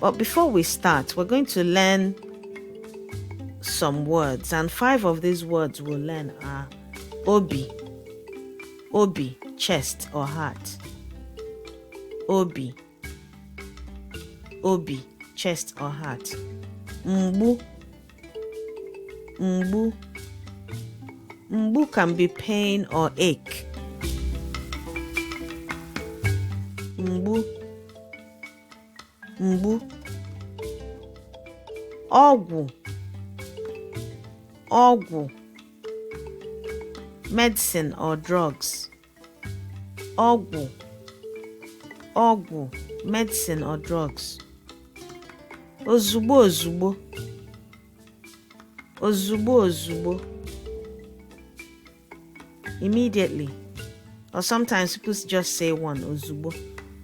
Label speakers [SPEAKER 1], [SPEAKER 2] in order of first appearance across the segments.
[SPEAKER 1] But before we start, we're going to learn some words, and five of these words we'll learn are obi, obi, chest or heart, obi, obi, chest or heart, mbu, mbu, mbu can be pain or ache. mgbu ọgwụ ọgwụ medicine or drugs ọgwụ ọgwụ medicine or drugs ozugbo ozugbo ozugbo ozugbo immediately or sometimes people just say one ozugbo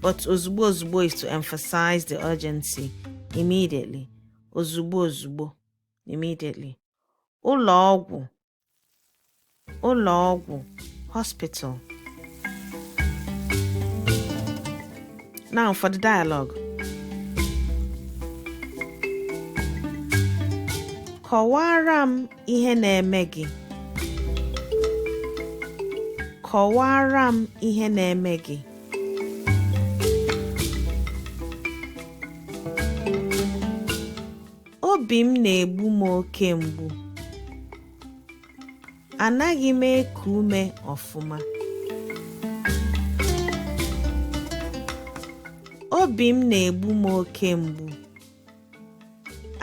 [SPEAKER 1] but ozugbo ozugbo is to emphasize the urgency immediately ozugbo ozugbo immediately ụlọ ọgwụ ụlọ ọgwụ hospital now for the dialogue kọwaara m ihe na-eme gị kọwaara m ihe na-eme gị obi m na-egbu m oke mgbu anaghị m eku ume ọfụma obi m na-egbu m oke mgbu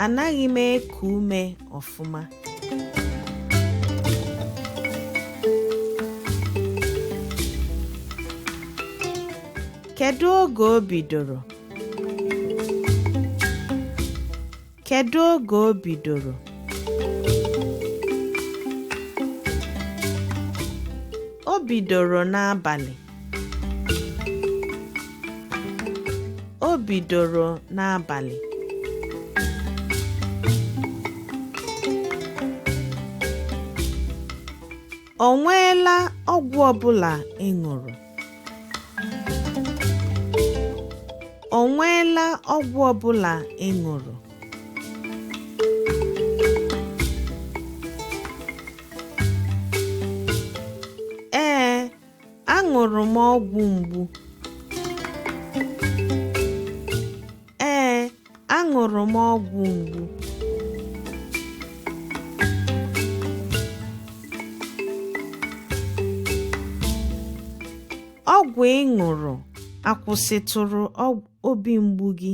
[SPEAKER 1] Anaghị m eku ume ọfụma. Kedu oge o bidoro? Kedu oge o bidoro? O bidoro n'abalị. o bidoro n'abalị o nweela ọgwụ ọbụla ị ṅụrụ o nweela ọgwụ ọbụla ị ṅụrụ Aṅụrụ m ọgwụ mgbu. Ee, aṅụrụ m ọgwụ mgbu. Ọgwụ ị ṅụrụ akwụsịtụrụ obi mgbu gị?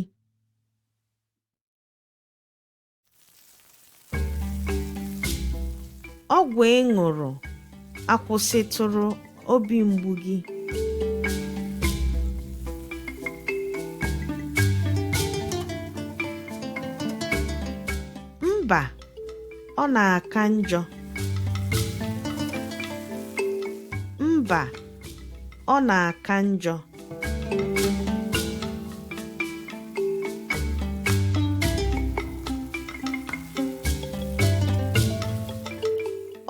[SPEAKER 1] ọgwụ ị ṅụrụ akwụsịtụrụ obi mgbu gị mba ọ na-aka njọ mba ọ na-aka njọ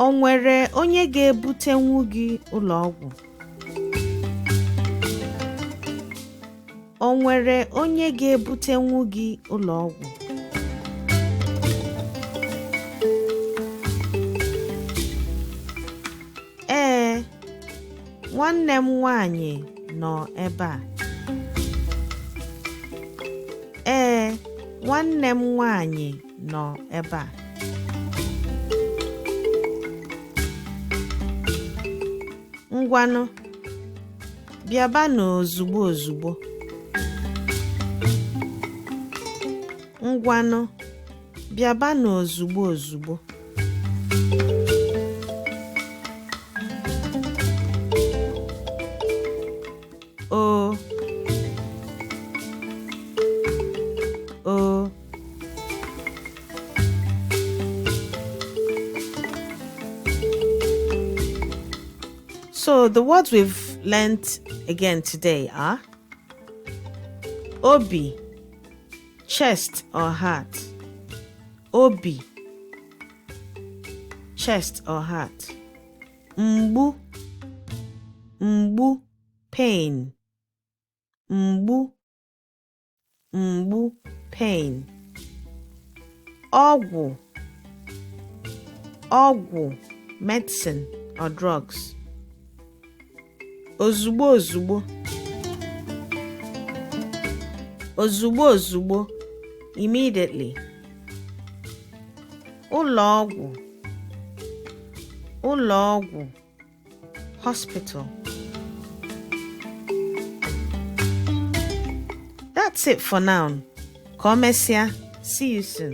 [SPEAKER 1] o nwere onye ga-ebutenwu gị ụlọ ọgwụ o nwere onye ga-ebutenwu gị ụlọ ọgwụ Ee, nwanne m nwanyị nọ ebe a. Ee, nwanne m nwanyị nọ ebe a. Ngwanụ, bịabanụ ozugbo ozugbo. Ngwanụ. bịabanụ ozugbo ozugbo o o So the words we've learnt again today are Obi chest or heart obi chest or heart mgbu mgbu pain mgbu mgbu pain ọgwụ ọgwụ medicine or drugs ozugbo ozugbo ozugbo ozugbo immediately ụlọ ọgwụ ụlọ ọgwụ hospital that's it for now ka o mesịa see you soon